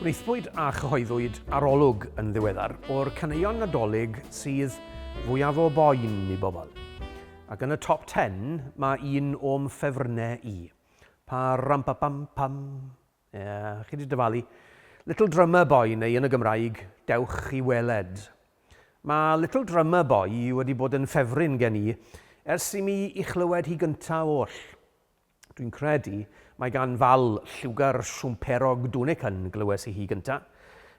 Gwnaethpwyd a chyhoeddwyd arolwg yn ddiweddar o'r caneuon nadolig sydd fwyaf o boen i bobl. Ac yn y top 10 mae un o'm ffefrynnau i. Pa ram pa pam pam. Ie, chi 'di dyfalu. Little Drummer Boy neu yn y Gymraeg, Dewch i Weled. Mae Little Drummer Boy wedi bod yn ffefryn gen i ers i mi i chlywed hi gynta oll. Dwi'n credu mae gan Val lliwgar siwmperog Dunican glywes i hi gynta.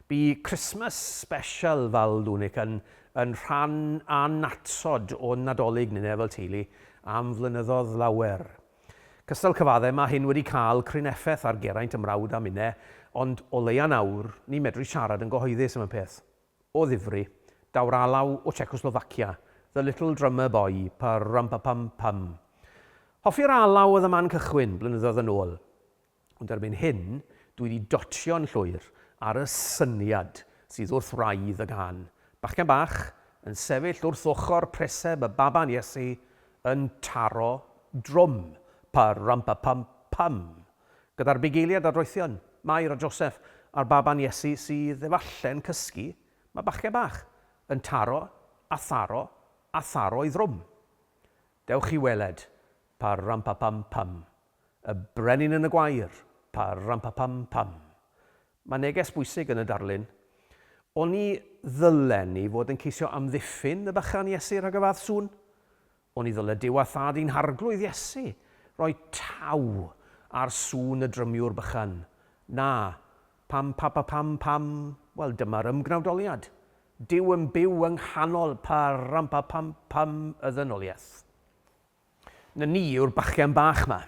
Bu Christmas Special Val Dunican yn rhan annatod o'n Nadolig ni neu fel teulu am flynyddodd lawer. Cystal cyfaddef, mae hyn wedi cael cryn effaith ar Geraint, 'y mrawd a minne, ond o leia nawr, ni'n medru siarad yn gyhoeddus am y peth. O ddifri. Daw'r alaw o Checoslofacia. The little drummer boy, pa-rum-pa-pum-pum. Hoffi'r alaw oedd y man cychwyn, blynyddoedd yn ôl. Ond erbyn hyn, dw i 'di dotio'n llwyr ar y syniad sydd wrth wraidd y gân, bachgen bach yn sefyll wrth ochr preseb y baban Iesu yn taro drwm, pa-rum-pa-pum-pum, gyda'r bugeiliad adroethion, Mair a Joseph a'r baban Iesu sydd efalle'n cysgu, mae bachgen bach yn taro a tharo a tharo ei ddrwm. Dewch i weled, pa-rum-pa-pum-pum. Y brenin yn y gwair! Pa-ram-pa-pam-pam! Mae neges bwysig yn y darlun. Oni ddylen ni fod yn ceisio amddiffyn y bychan Iesu rhag y fath sŵn? Oni ddyle Duw a Thad i'n Harglwydd Iesu roi taw ar sŵn y drymiwr bychan? Na. Pam-pa-pa-pam-pam! Wel, dyma'r ymgnawdoliad. Duw yn byw yng nghanol pa-ram-pa-pam-pam y ddynoliaeth. Na ni yw'r bachgen bach 'ma.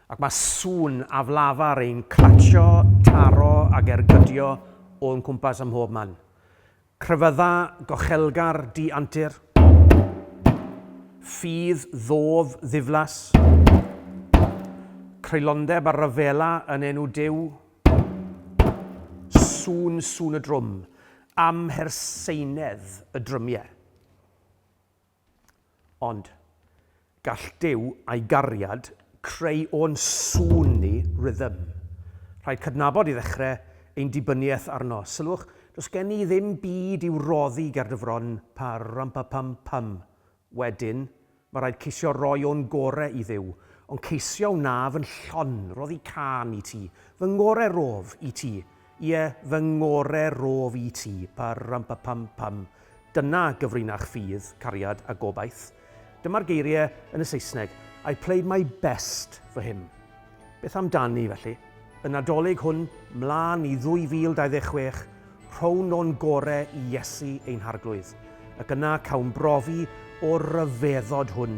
Ac mae sŵn aflafar yn clatsio, taro ac ergydio o'n cwmpas ym mhob man. Crefydda gochelgar di-antur. Ffydd ddof ddiflas. Creulondeb a rhyfela yn enw Duw. Sŵn, sŵn y drwm. Amherseinedd y drymiau. Ond, gall Duw a'i gariad creu o'n sŵn ni rythm. Rhaid cydnabod i ddechrau ein dibyniaeth arno. Sylwch, does gen i ddim byd i'w roddi ger dy fron, pa-ram-pa-pam-pam. Wedyn, mae rhaid ceisio roi o'n gorau i Dduw, ond ceisio wnaf yn llon, roddi cân i ti, fy ngorau rof i ti, Ie, fy ngore rof i ti. Pa-ram-pa-pam-pam. Dyna gyfrinach ffydd, cariad a gobaith. Dyma'r geiriau yn y Saesneg, I played my best for him. Beth amdani, felly? Y Nadolig hwn, 'mla'n i 2026, rhown o'n gore i Iesu ein Harglwydd, ac yna cawn brofi o'r ryfeddod hwn